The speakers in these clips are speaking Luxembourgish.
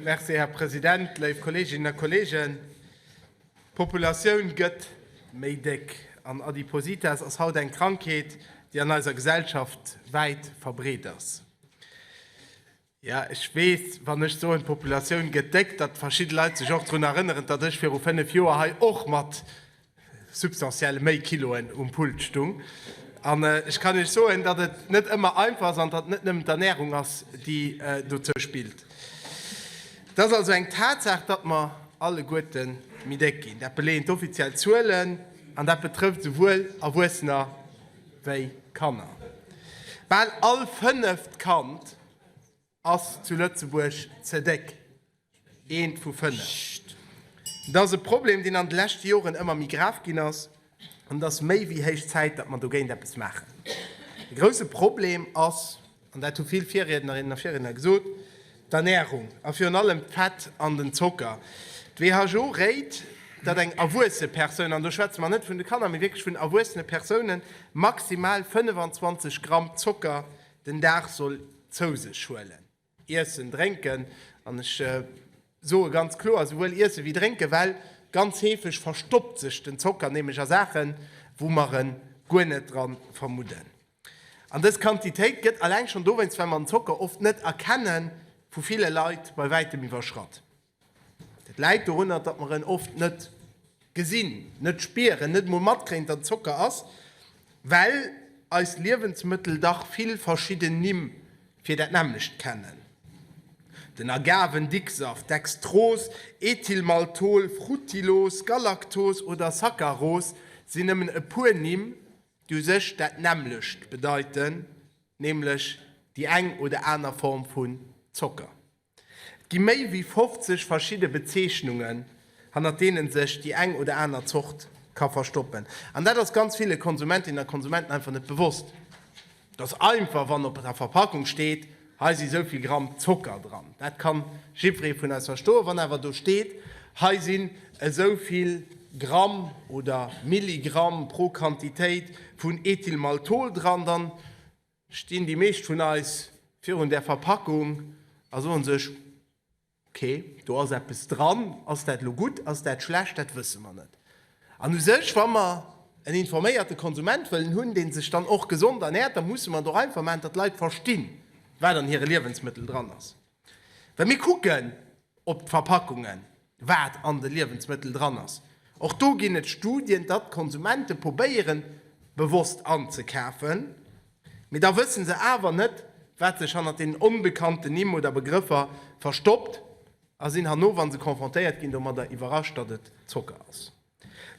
Merci, Här President. Léif Kolleeginnen a Kolleegen, d'Populatioun gëtt méi déck an Adipositas ass haut eng Krankheet, déi an eiser Gesellschaft wäit verbreet ass. Jo, ech weess, wann ech soen, d'Populatioun gëtt déck, datt verschidde Leit sech och drun erënneren, datt ech viru fënnef Joer hei och mat substantiell méi Kiloen um Pult stung. An ech kann Iech soen, datt et net ëmmer einfach ass an datt et net nëmmen d'Ernärung ass, déi dozou spillt. Et ass also eng Tatsaach, datt mer alleguerte méi déck ginn. Dat beleeën d'offiziell Zuelen an dat betrëfft esouwuel Erwuessener wéi Kanner. Bal all fënneft Kand. Ass zu Lëtzebuerg ze déck? Eent vu fënnef. Et ass e Problem, deen an de leschte Joren ëmmer méi grav ginn ass, an et ass méi wéi héich Zäit, datt mer dogéint eppes maachen. De grousse Problem ass, an dat hu vill Virriednerinnen a Virriedner gesot, d'Ernärung a virun allem d'Fett an den Zocker. D'WHO réit, datt eng erwuesse Persoun, an do schwätze mer net vun de Kanner, mee wierklech vun erwuessene Persounen, maximal 25 Gramm Zocker Den Dag soll zou sech huelen, iessen, drénken, an ech soe ganz kloer, esouwuel iessen ewéi drénken, well ganz heefeg verstoppt sech den Zocker nämlech a Saachen, wou mer en guer net dran vermudden. An dës Quantitéit gëtt alleng schonn dowéinst, well mer den Zocker oft net erkennen, vu ville Leit bei wäitem iwwerschratt. Dat läit dorunner, datt mer en oft net gesinn, net spieren, net emol matkréien, datt et Zocker ass, well eis Liewensmëttel dach vill verschidden Nimm fir dat nämmlecht kennen, den Agavendicksaft, Dextros, Ethylmaltol, Fruttilos, Galaktos oder Saccaros sinn nëmmen e puer Nimm, déi u sech dat nämmlecht bedeiten, nämlech déi eng oder aner Form vu Zocker. Et gi méi wéi 50 verschidde Bezeechnungen, hannert deene sech déi eng oder aner Zort ka verstoppen. An dat ass ganz ville Konsumentinnen a Konsumenten einfach net bewosst, dass einfach, wann op der Verpackung steet, hei si sou vill Gramm Zocker dran. Dat ka jiddweree vun eis verstoen. Wann awer do steet, hei sinn esou vill Gramm oder Milligramm pro Quantitéit vun Ethylmaltol dran, dann stinn déi meescht vun eis virun där Verpackung a soen sech, ok, do ass eppes dran, ass dat elo gutt, ass dat schlecht, dat wësse mer net. An u sech, wa mer en informéierte Konsument wëllen hunn, dee sech dann och gesond ernäert, da musse mer et och einfach maachen, datt d'Leit verstinn, wat an hire Liewensmëttel dran ass. Wa mir kucken op d'Verpackungen, wat an de Liewensmëttel dran ass, och do ginn et Studien, datt d'Konsumente probéiere bewosst anzekafen, mee da wësse se awer net, wat sech hannert deenen onbekannten Nimm oder Begrëffer verstoppt a sinn herno, wa se confrontéiert ginn domadder, iwwerrascht, datt et Zocker ass.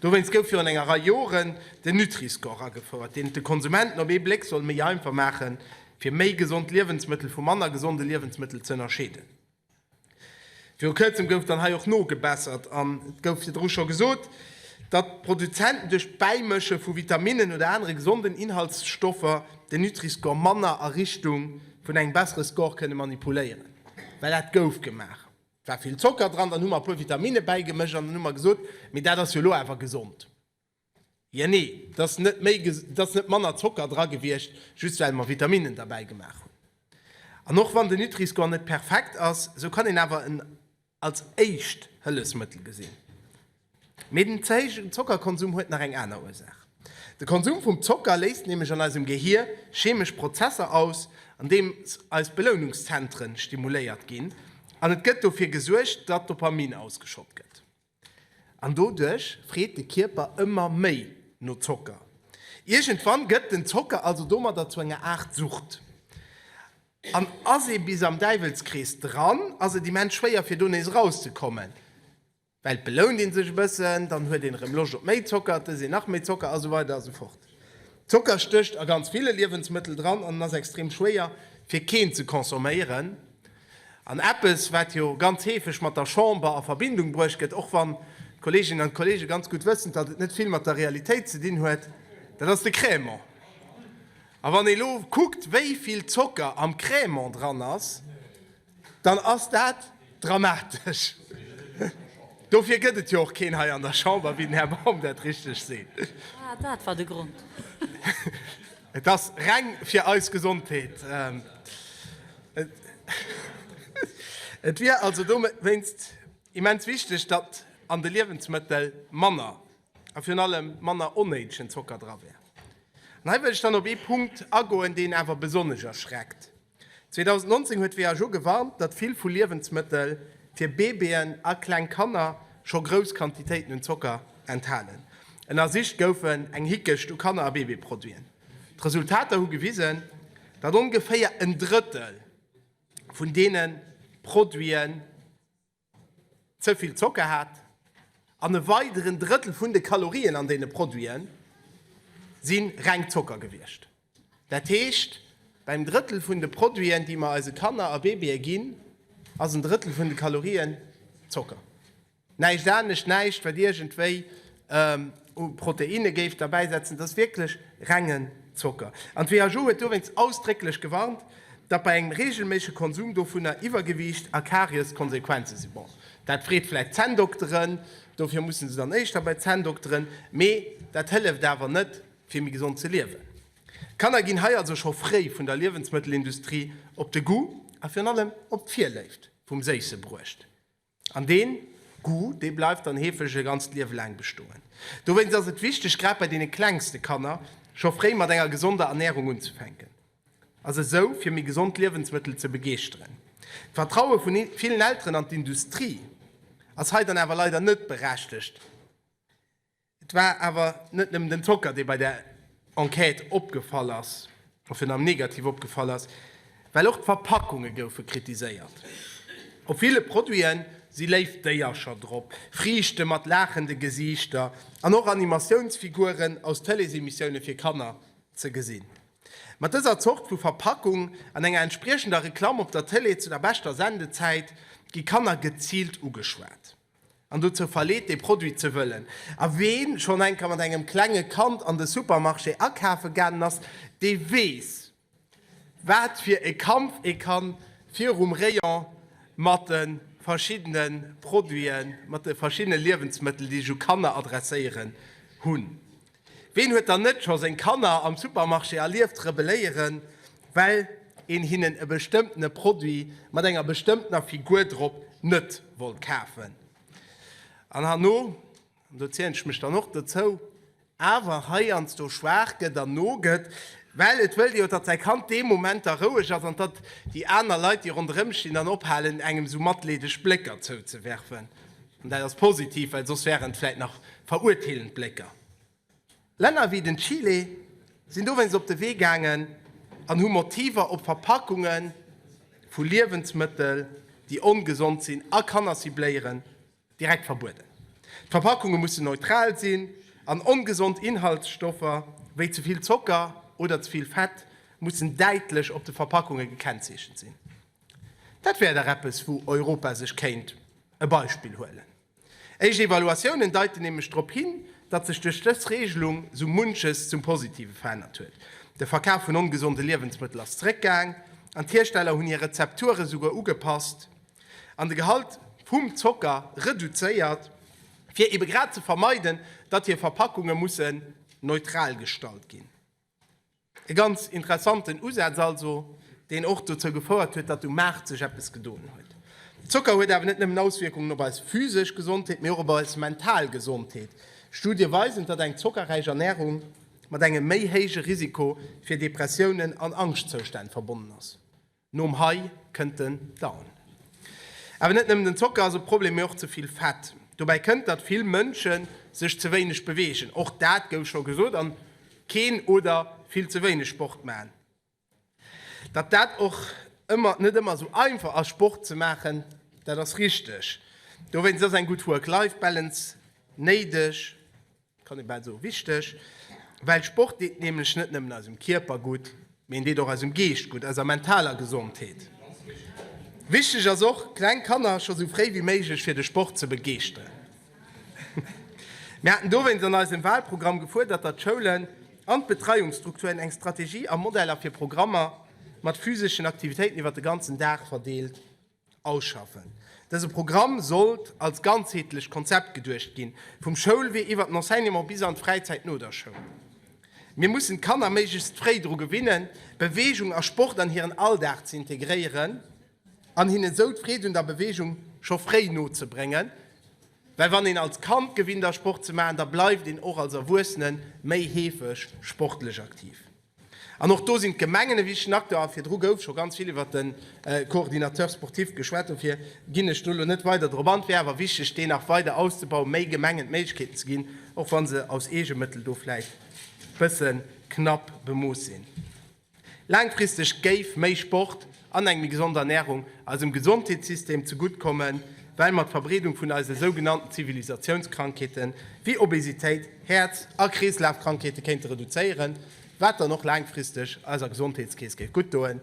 Dowéinst gouf virun enger Rei Joren den Nutri-Score agefouert, deen et de Konsumenten op ee Bléck soll méi einfach maachen, fir méi gesond Liewensmëttel vu manner gesonde Liewensmëttel ze ënnerscheeden. Viru Kërzem gouf dann hei och nogebessert an et gouf virdru scho gesot, datt d'Produzenten duerch d'Bäimësche vu Vitaminnen oder anere gesonden Inhaltsstoffer den Nutri-Score manner a Richtung vun engem bessere Score kënne manipuléieren, well dat gouf gemaach. Et war vill Zocker dran, dann hu mer e puer Vitamine bäigemëscht an dann hu mer gesot, mee dat ass jo elo awer gesond. Jo, nee, et ass net méi, et ass net manner Zocker dra gewiescht, just well mer Vitaminnen derbäi gemaach hunn. An och wann den Nutri-Score net perfekt ass, esou kann een awer en als éischt Hëllefsmëttel gesinn. Mee den ze héijen Zockerkonsum huet nach eng aner Ursaach. De Konsum vum Zocker léist nämlech an eisem Gehier chemesch Prozesser aus, an deems eis Belounungszentre stimuléiert ginn, an et gëtt dofir gesuergt, datt Dopamin ausgeschott gëtt. An doduerch freet de Kierper ëmmer méi no Zocker. Iergendwann gëtt den Zocker also domadder zu enger Aart Sucht. An ass ee bis am Däiwelskrees dran, ass et immens schwéier fir do nees erauszekommen. Well belount een sech e bëssen, dann huet een erëm Loscht op méi Zocker, et ësst een nach méi Zocker a sou weider a sou fort. Zocker stécht a ganz ville Liewensmëttel dran an en ass extrem schwéier fir keen ze consomméieren. An eppes wat jo ganz heefeg mat der Chamber a Verbindung bruecht gëtt, och wann d'Kolleeginnen an d'Kolleege ganz gutt wëssen, datt et net vill mat der Realitéit ze dinn huet, dat ass de Crèmant. A wann ee lo kuckt wéi vill Zocker am Crèmant dran ass, Dann ass dat dramatesch. Dofir gëtt et jo och keen hei an der Chamber, wéi den Här Baum dat richteg seet. Ah, dat war de Grond. Et ass reng fir eis Gesondheet. Et wier also dowéinst immens wichteg, datt an de Liewensmëttel manner a virun allem manner onnéidegen Zocker dra wär. An hei wëll ech dann op ee Punkt agoen, deen awer besonnesch erschreckt. 2019 huet d'WHO gewarnt, datt vill vu Liewensmëttel fir Babyën a kleng Kanner scho grouss Quantitéiten un Zocker enthalen. Ënnersicht goufen eng Hickecht u Kanner a Babyproduiten. D'Resultater hu gewisen, datt ongeféier en Drëttel vun deene Produite ze vill Zocker hat an e weideren Drëttel vun de Kalorien an deene Produite si reng Zocker gewiescht. Dat heescht, beim Drëttel vun de Produiten, déi mer eise Kanner a Babye ginn, ass en Drëttel vun de Kalorien Zocker. Näischt anescht, näischt, wat iergendwéi. u Proteinne géif derbäi setzen, dass wierklech rengen Zocker. An d'WHO huet dowéinst ausdrécklech gewarnt, datt bei engem reegelméissege Konsum dovunner Iwwergewiicht a Karies d'Konsequenze sinn. Bon, dat freet vläicht d'Zänndokteren, dofir musse se dann éischter bei d'Zänndokteren, mee dat hëlleft awer net, fir méi gesond ze liewen. D'Kanner ginn hei also scho fréi vun der Liewensmëttelindustrie op de Goût a virun allem op d'Virléift vum Séisse bruecht. An dee Goût, dee bleift dann heefeg e ganzt Liewe laang bestoen. Dowéinst ass et wichteg, grad bei deene klengste Kanner, scho fréi mat enger gesonder Ernärung unzefänken a se esou fir méi gesond Liewensmëttel ze begeeschteren. D'Vertraue vu villen Elteren an d'Industrie ass hei dann awer leider net berechtegt. Et war awer net nëmmen den Zocker, dee bei der Enquête opgefall ass, a virun allem negativ opgefall ass, well och d'Verpackunge goufe kritiséiert. Op ville Produite si léif Déiercher drop, Friichte mat laachende Gesiichter an och Animatiounsfiguren aus Télésemissioune fir Kanner ze gesinn. Mat dëser Zort vu Verpackung an enger entspriechender Reklamm op der Télé zu der beschter Sendezäit gi Kanner geziilt ugeschwat. an dozou verleet dee Produit ze wëllen, a ween schonn enker mat engem klenge Kand an de Supermarché akafe gaangen ass, dee weess wat fir e Kampf ee kann virum Rayon mat de verschiddene Produiten, mat de verschiddene Liewensmëttel, déi sech u Kanner adresséieren, hunn. Ween huet dann net scho seng Kanner am Supermarché erlieft rebelléieren, well een hinnen e bestëmmtene Produit mat enger bestëmmtener Figur drop net wollt kafen? An herno, an do zielen ech mech dann och dozou, awer heiansdo schwaach gëtt an nogëtt, well et wëllt jo, datt säi Kand dee Moment da roueg ass an datt déi aner Leit, déi ronderëm stinn, dann ophalen, engem esou matleedeg Blécker zouzewerfen. An dat ass positiv, well soss wären et vläicht nach verurteelend Blécker. Länner wéi den Chile sinn dowéinst op de Wee gaangen an hu Motiver op Verpackunge vu Liewensmëttel, déi ongesond sinn a Kanner cibléieren, direkt verbueden. D'Verpackunge mussen neutral sinn an ongesond Inhaltsstoffer wéi ze vill Zocker oder ze vill Fett mussen däitlech op de Verpackunge gekennzeechent sinn. Dat wär dach eppes, wou Europa sech kéint e Beispill huelen. Éischt Evaluatiounen deiten nämlech drop hin, datt sech duerch dës Reegelung sou munches zum Positive verännert huet. De Verkaf vun ongesonde Liewensmëttel ass zeréckgaang an d'Hiersteller hunn hir Rezepture souguer ugepasst an de Gehalt vum Zocker reduzéiert, fir ebe grad ze vermeiden, datt hir Verpackunge mussen neutral gestalt ginn. E ganz interessanten Usaz also, deen och dozou gefouert huet, datt um Maart sech eppes gedoen huet. Zocker huet awer net nëmmen Auswierkungen op eis physesch Gesondheet, mee och op eis mental Gesondheet. Studie weisen, datt eng zockerräich Ernärung mat engem méi héije Risiko fir Depressiounen an Angschtzoustänn verbonnen ass. Nom High kënnt den Down. Awer net nëmmen den Zocker ass e Problem, mee och ze vill Fett. Dobäi kënnt, datt vill Mënsche sech ze wéineg beweegen, och dat gouf scho gesot, an keen oder vill ze wéineg Sport maachen. Datt dat och net ëmmer esou einfach ass Sport ze maachen, dat ass richteg. Dowéinst ass eng gutt Work-Life-Balance néideg. Kann ee bal soen, wichteg, well Sport deet nämlech net nëmmen eisem Kierper gutt, mee en deet och eisem Geescht gutt, eiser mentaler Gesondheet. Wichteg ass och, kleng Kanner scho sou fréi wéi méiglech fir de Sport ze begeeschteren. Mir haten dowéinst an eisem Walprogramm gefuerdert, datt d'Schoulen an d'Betreiungsstrukturen eng Strategie a Modeller fir Programmer mat physeschen Aktivitéiten iwwer de ganzen Dag verdeelt Ausschaffen. Dëse Programm sollt als ganzheetlecht Konzept geduecht ginn, vum Schoulwee iwwert den Enseignement bis an d'Fräizäit no der Schoul. Mir mussen d'Kanner méiglechst fréi dru gewinnen, Beweegung a Sport an hiren Alldag ze integréieren an hinnen esou d'Freed un der Beweegung scho fréi nozebréngen, well wann een als Kand gewinnt ass Sport ze maachen, da bleift een och als Erwuessene méi heefeg sportlech aktiv. An och do sinn d'Gemengen e wichtegen Acteur. A virdru gouf scho ganz vill iwwert de Coordinateur sportif geschwat, dofir ginn ech do elo net weider drop an. Et wär awer wichteg, deen nach weider auszebauen, méi Gemengen d'Méiglechkeeten ze ginn, och wa se aus Eegemëttel do vläicht e bësse knapp bemooss sinn. Laangfristeg géif méi Sport an eng méi gesond Ernärung eisem Gesondheetssystem zegutt kommen, well mer d'Verbreedung vun eise sougenannten Zivilisatiounskrankheete wéi Obesitéit, Häerz a Kreeslafkrankheete kéinte reduzéieren, wat dann och laangfristeg eiser Gesondheetskeess géif guttdoen.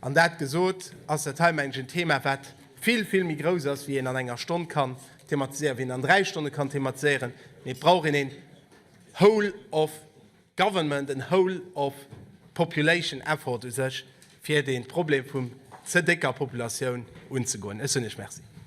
An dat gesot, ass dat hei, mengen ech, en Thema, wat vill, vill méi grouss ass, wéi een an enger Stonn kann thematiséieren, wéi een an dräi Stonne kann thematiséieren, mee et brauch een een whole of. Government and whole of population effort u sech, fir dee Problem vum ze décker Populatioun unzegoen. Ech soen Iech Merci.